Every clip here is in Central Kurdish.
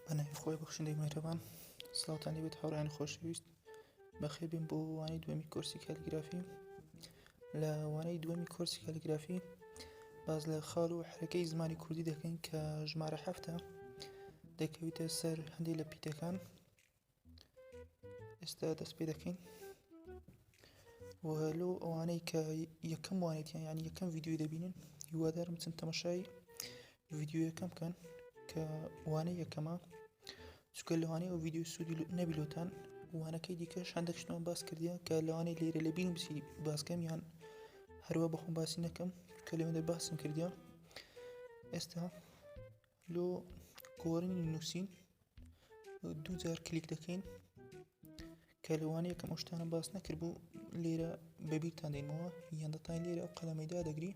بەناوی خۆی بەخشندەی مهرەبان سڵاوتانی بێت هاوڕیان خۆشەویست بەخێ بێن بۆ وانەی دووەمی کۆرسی کالیگرافی لە وانەی دووەمی کۆرسی کالیگرافی باز لە خاڵ و حرەکەی زمانی کوردی دەکەین کە ژمارە هەفتە دەکەویتە سەر هەندێک لە پیتەکان ئێستا دەست پێ دەکەین وهلو ئەوانەی کە یەکەم وانێتیان ینی یەکەم یددیوی دەبینن هیوادارم چەند تەمەشای یددیو یەکەم بکەن کە وانە یەکەمە چکە لەوانەیە ئەو یددیو سوودی نەبیلوتان وانەکەی دیکە شاندەشتمان باس کردیان کە لەوانەیە لێرە لە بینم بسی باسکەم یان هەروە بەخۆم باسی نەکەم کە لەوێندە باسم کردیان ئێستا لۆ گۆرنی نووسین دوو جار کلیک دەکەین کە لەوانەیە کەم ئەو شتانە باس نەکرد بوو لێرە بەبییرتان دەینەوە یان دەتان لێرە ئەو قەلەمەیدا دەگری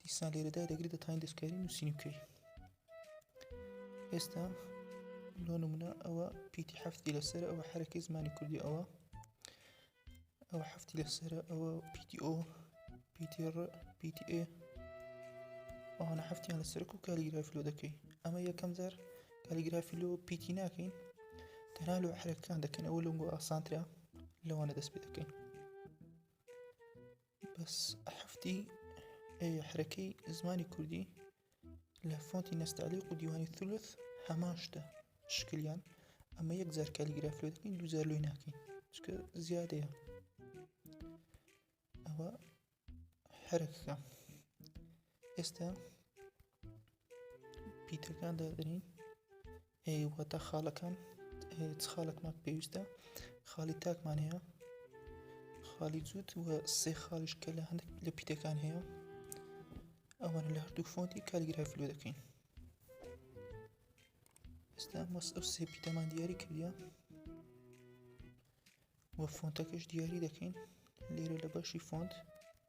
دیسان لێرەدا دەگری دەتان دەستکاری نووسین بکەی ئێستا لۆ نمونە ئەوە پیتی هەفتی لەسەر ئەوە حرەکەی زمانی کوردی ئەوە ئەو حەفتی لەسرە ئەوە پیتی ئۆ پیتی ڕ پیتی ئێ ئەوانە حفتیان لە سەرک و کالیگرافی لۆ دەکەی ئەمە یەکەم جار کالیگرافی لۆ پیتی ناکەین تەنها لۆ حرەکان دەکەن ئەوە لەنگ ئاسانترا لەوانە دەست پێ دەکەین بەس حفتی حرەکەی زمانی کوردی لە فۆنتی نەستەعلیق و دیوانی ثلث هەمان شتە شکلیان ئەمە یەک جار کالیگراف لێ دەکەین دوو جار لۆی ناکەین چکە زیادەیە ئەوە هەرەکەکە ئێستا پیتەکان دادرین ئێ واتا خاڵەکان چ خاڵەکمان پێویستە خاڵی تاکمان هەیە خاڵی جووت وە سێ خاڵیش کە لە هەندێک لە پیتەکان هەیە ئەوان لە هەردوو فۆنتی کالیگرافی لۆ دەکەین ئێستا مەس ئەو سێ پیتەمان دیاری کردە وە فۆنتەکەش دیاری دەکەین لێرە لە بەشی فۆنت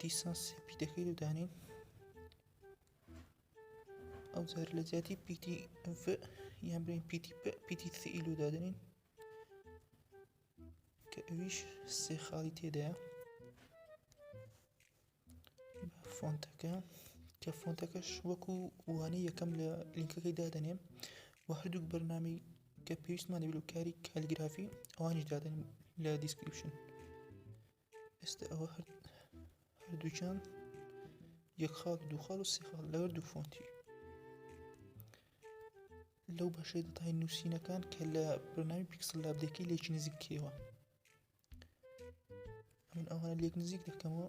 دیسان سپی دەکەیت و دانێن ئەو جار لە جیاتی پیتی یان برین پیتی پیتی سئیل و دادنین کە ئەویش سێ خاڵی تێدایە فۆنتەکە کە فۆنتەکەش وەکو وانەی یەکەم لە لینکەکەی دادەنێم و هەردووک بەرنامی کە پێویستمان دەبێت و کاری کالیگرافی ئەوانیش دادن لە دیسکریپشن ئێستا ئەوە هەردووچان یەک خاڵ دوو خاڵ و سێ خاڵ لەوەر دوو فۆنتی لەو بەشەی دەتای نووسینەکان کە لە بەناوی پیکسل لابدەکەی لێکی نزیک کێوە من ئەوانە لێک نزیک دەکەمەوە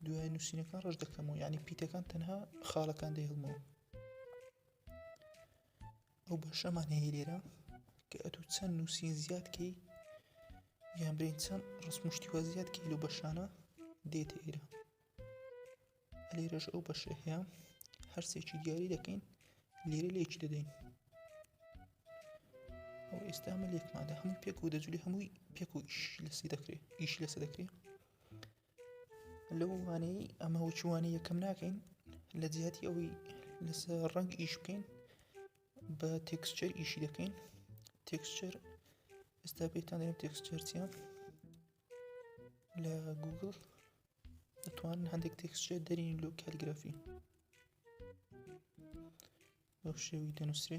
دوای نووسینەکان ڕژ دەکەمەوە یعنی پیتەکان تەنها خاڵەکان دەهڵمەوە ئەو بەشەمان هەیە لێرە کە ئەتو چەند نووسین زیاد کەی یان برین چەند ڕسمشتیوە زیاد کەی لە بەشانە دێتە ئێرە لێرەش ئەو بەشە هەیە هەرسێکی دیاری دەکەین لێرە لێکی دەدەین ئەو ئێستا ئەمە لێکمادا هەموو پێک و دەجلی هەمووی پێک و ئیش لەسی دەکرێت ئیش لەسە دەکرێت لەو وانەی ئەمە وچوانە یەکەم ناکەین لە جیاتی ئەوەی لەسە ڕەنگ ئیش بکەین بە تێکسچەر ئیشی دەکەین تێکسچەر ئێستا پێتان دەێن تێکسچەرچە لە گوگل دەتوان هەندێک تێکسچە دەرین لۆ کالگرافی بەو شێوی دەنووسێ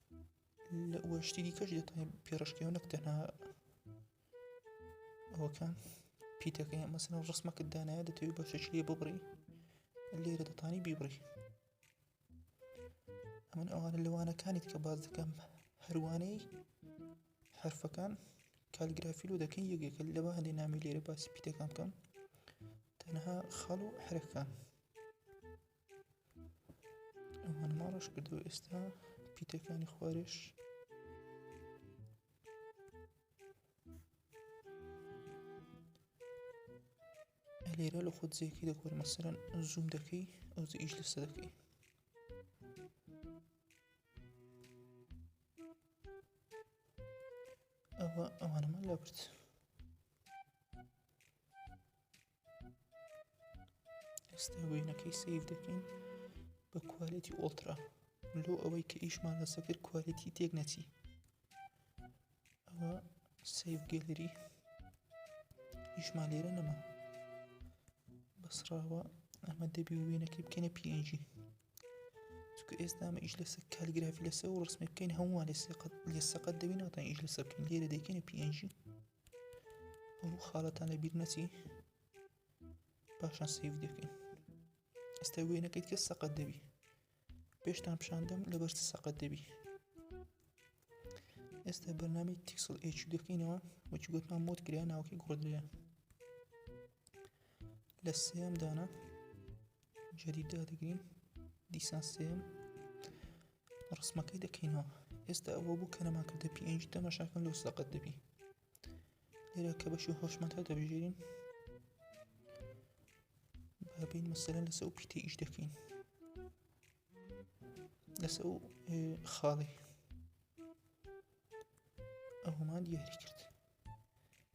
لە وەشتی دیکەش دەتوانین پێڕشکەوە نەک تەنها ئەوەکان پیتەکەی مەسن ڕسمەکە دانایە دەتەوێت بە شەش لێ ببڕی لێرە دەتانی بیبڕی ئەمن ئەوانە لەوانەکانیت کە باز دەکەم هەروانەی حرفەکان کالگرافی لۆ دەکەین یەکێکە لەوە هەندێک نامی لێرە باسی پیتەکان بکەم تەنها خەڵ و حرەکان ئەمان ماڕش کردو ئێستا پیتەکانی خوارش لێرە لە خۆت زیەکی دەکۆر مەسەرەن زووم دەکەی ئەو ئیش لەسە دەکەی ئەوە ئەوانەمان لابرد ئێستا وێنەکەی سیف دەکەین بە کوالێتی ئۆڵترا لۆ ئەوەی کە ئیشمان لەسە کرد کوالێتی تێک نەچی ئەوە سیف گەلری ئیشمان لێرە نەما بەسراوە ئەمە دەبی وێنەکەی بکەینە پNG چکە ئێستا ئەمە ئیش لەسەر کالگرافی لەسەر و ڕسمی بکەین هەمووان لە سەقەت لە سەقەت دەبی ناتان ئیش لەسەر بکەین لێرە دەکەینە پNG ئەو خاڵەتان لەبیر نەچی پاشان سیف دەکەین ئێستا وێنەکەیت کە سەقەت دەبی پێشتان پیشاندەم لەبەر سەقەت دەبی ئێستا بەرنامی تیکسڵ ئچ دەکەینەوە وەچی گوتمان مۆت کرا ناوکی گۆدرەیە لە سێم دانا جدید دادەگرین دیسان سێم ڕسمەکەی دەکەینەوە ئێستا ئەوە بوو کە نەما کردە پێنج دەمەشاکەن لۆ سەقەت دەبی لێرە کە بەشی هۆشمەتە دەبژێرین بابین مەسەرە لەسە و پیتە ئیش دەکەین لەسە و خاڵی ئەومان دیاری کرد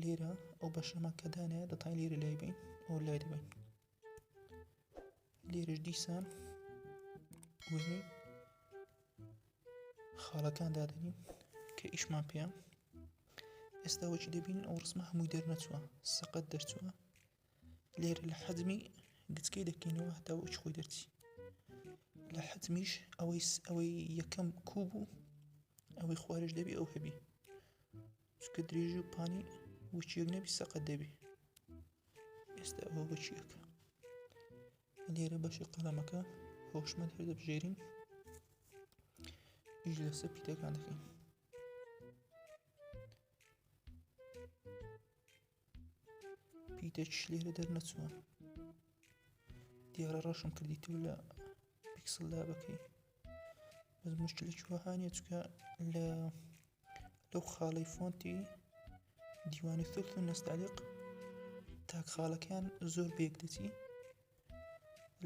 لیرە ئەو بەشەمە کە دانایە دەتای لیرە لای بین ئەو لای دەبین لیرش دیسان وزنی خاڵەکان دادەنین کە ئیشمان پێیان ئێستا وەچی دەبین ئەو ڕسممە هەمووی دەرنەچووە سەقەت دەرچووە لێرە لە حەزمی گچکەی دەکەینەوە هەتا وچ خۆی دەرچی لە حەزمیش ئەوەی ئەوەی یەکەم کو بوو ئەوەی خوارش دەبی ئەو هەبی چکە درێژ و پانی وچیەک نەبی سەقەت دەبی ئێستا ئەوە بچیەکە لێرە بەشی قەڵەمەکە هۆشمەند هەر دەبژێرین ئیش لەسەر پیتەکان دەکەین پیتە چش لێرە دەرنەچوە دیارە ڕەشم کردی تۆ لە پیکسل لابەکەی بەس مشکلێکی وەهانە چکە لە لەو خاڵی فۆنتی دیوانی سوخت و نەستالیق تاک خاڵەکان زۆر بێک دەچی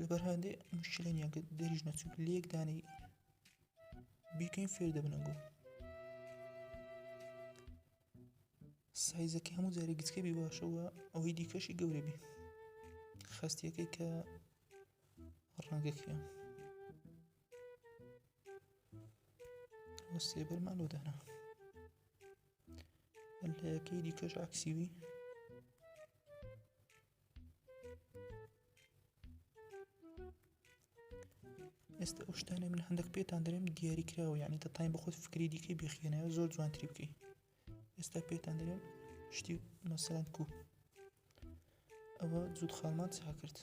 لەبەر هەندێ مشکلە نیە دەریژ نەچوو لەک دانی بیکەین فێر دەبنەگوو سایزەکەی هەموو جارێک گچکە بی باشەوە ئەوەی دیکەشی گەورە بی خستیەکەی کە ڕەنگەکە سێبەرمان لۆ دانا لەکەی دیکەش عکسیوی ئێستا ئەو شتانە من هەندێک پێتان دەێم دیاری کراوە یعنی دەتاین بە خۆت فکری دیکەی بخێنەوە زۆر جوانتری بکەی ئێستا پێتان دەێم شتی مەسەرەن کو ئەوە جوود خاڵمان چا کرد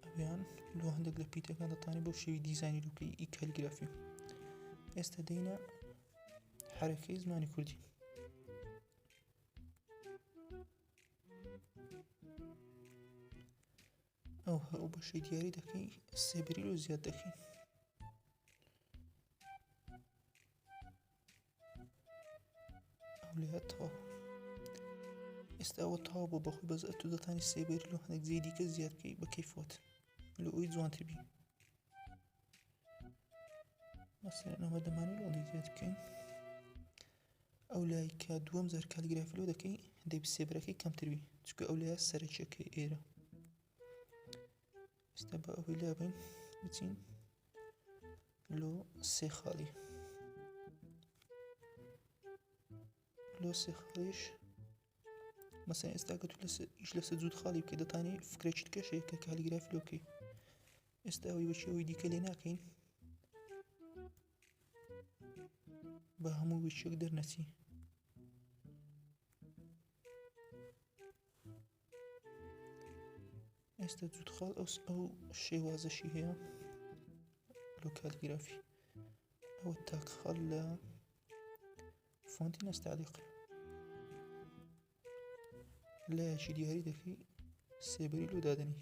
ئەویان لۆ هەندێک لە پیتەکان دەتانی بۆ شێوی دیزانی لوکەی ئی کەلگرافی ئێستا دەینە حرەکەی زمانی کوردی ئەو هەر ئەو بەشەی دیاری دەکەین سێبری لۆ زیاد دەکەین لێهاتەوە ئێستا ئەوە تاوا بۆ بەخۆی بەز ئەتو دەتانی سێبێت لۆ هەندێک جێ دیکە زیادکەی بە کەیفۆت لە ئەوی جوانتر بین مەسەرەوە دەمانی لۆڵی زیاد بکەین ئەو لای کە دووەم جار کالیگرافی لۆ دەکەی دەبی سێبرەکەی کەمتر بی چکە ئەو لایە سەرەکیەکەی ئێرە ئستا بە ئەوەی لابین بچین لۆ سێ خاڵی لۆ سێ خاڵیش مەسەن ئێستا کە تو لەس ئیش لەسە جوود خاڵی بکە دەتانی فکرێکیت کەشەیە کە کالیگراف لۆ بکەی ئێستا ئەوی بەچەوەی دیکە لێ ناکەین بە هەموو ویچێک دەرنەچی ئێستا جوود خاڵ ئەو ئەو شێوازەشی هەیە لۆ کالیگرافی ئەوە تاک خاڵ لە فۆنتی نەستالیق لایەکی دیاری دەکەی سێبەری لۆ دادنی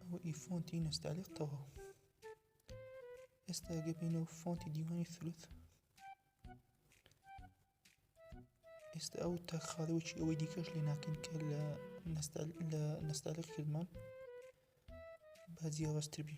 ئەوە ئی فۆنتی نەستالیق تەوە ئێستا گەبینەوە فۆنتی دیوانی ثلوت ئێستا ئەو تا خاڵەوەکی ئەوەی دیکەش لێ ناکەن کە لە نەستالق کردمان با جیاوازتر بی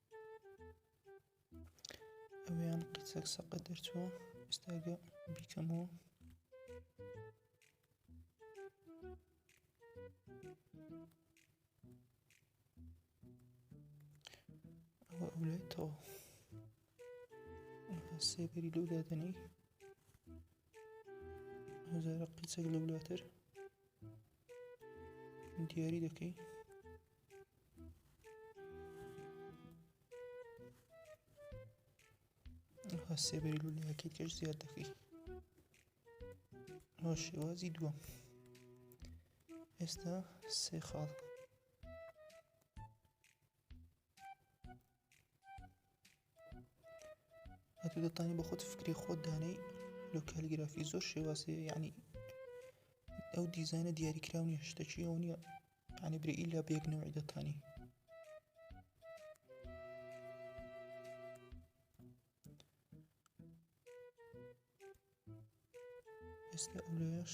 ئەویان قیچەک سەقە دەرچووە ئێستاگە بیکەمەوە ئەوە ئەولێتەوە سێبەری لەو دادنی هەزارە قیچەک لەولاتر دیاری دەکەی سێبەری لولەکەی کەش زیاد دەکەی ئەو شێوازی دووەم ئێستا سێ خاڵ ئەتو دەتانی بە خۆت فکری خۆت دانەی لۆ کالیگرافی زۆر شێوازێ یعنی ئەو دیزانە دیاریکراونی هشتەکی ئەو نییە عنی برە ئیلا بێکنەوەی دەتانی ئێستا ئەولێش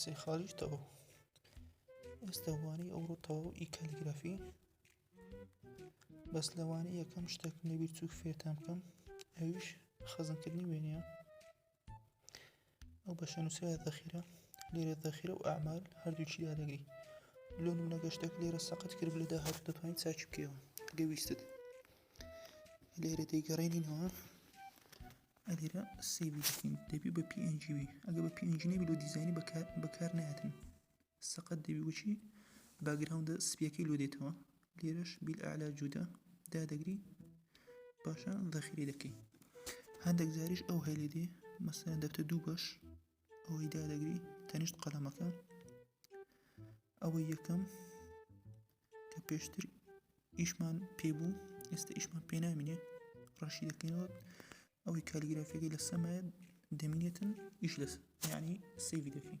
سێ خالیش تەوە ئێستاوانی ئەوڕۆ تەواو ئی کالیگرافی بەس لەوانی یەکەم شتێک نەبیر چوو فێتان بکەم ئەویش خەزنکردنی وێنە ئەو بەشە نووسرا دەخیرە لێرە دەخیرە و ئامال هەردووچی یادەگری لۆ منە گەشتێک لێرە سەقەت کرد لە داهات دەتوانین چاچی بکەوە گەویستت لێرە دەیگەڕێنینەوە ئەگەرە سەیڤی بکەین دەبی بە پی ئێنجی بی ئەگە بە پی ئێنجی نەبی لۆ دیزانی بەکار بەکار نایەتن سەقەت دەبی وچی باگراوندە سپیەکەی لۆ دێتەوە لێرەش بیل ئالا جودا دادەگری باشە دەخیری دەکەی هەندێک جاریش ئەو هەلێ دێ مەسەن دەبتە دوو بەش ئەوەی دادەگری تەنیشت قەلەمەکە ئەوە یەکەم کە پێشتر ئیشمان پێ بوو ئێستا ئیشمان پێ نامینێ ڕەشی دەکەینەوە ئەوەی کالیگرافیەکەی لە سەمایە دەمینێتن ئیش لەس ینی سەیوی دەکەین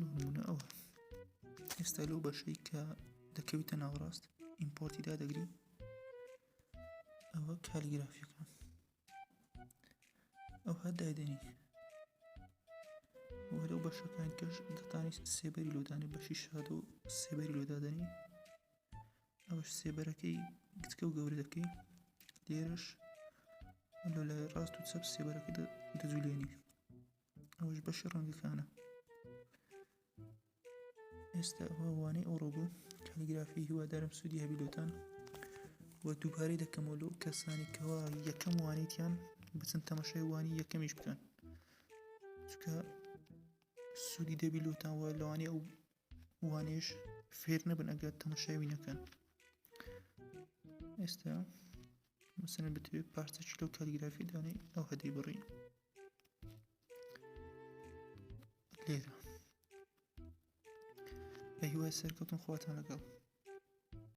نمونەوە ئێستا لەو بەشەی کە دەکەویتە ناوڕاست ئیمپۆرتی دادەگری ئەوە کالیگرافیەکە ئەو هەر دایدەنی وەرەو بەشەکان کەش دەتانی سێبەری لۆدانی بەشی شاد و سێبەری لۆدادەنی ئەوەش سێبەرەکەی گچکە و گەورەکەی لێرەش لە لای ڕاست و چەپ سێبەرەکە دەجولێنی ئەوش بەشی ڕەنگەکانە ئێستا ئەوانەی ئەوڕۆ بوو کالیگرافی هیوادارم سوودی هەبیلۆتان و دووبارەی دەکەمەوە لەو کەسانی کەوا یەکەم وانیتیان بچن تەمەشای وانی یەکەمیش بکەن چکە سوودی دەبی لۆتان وە لەوانێ ئەو وانیش فێر نەبن ئەگەر تەمەشاوی نەکەن ئێستا مەسەن بتوێت پارچەکی لەو کالیگرافی دانێ ئەو هەدەی بڕی لێرە بە هیوای سەرکەوتن خواتان لەگەڵ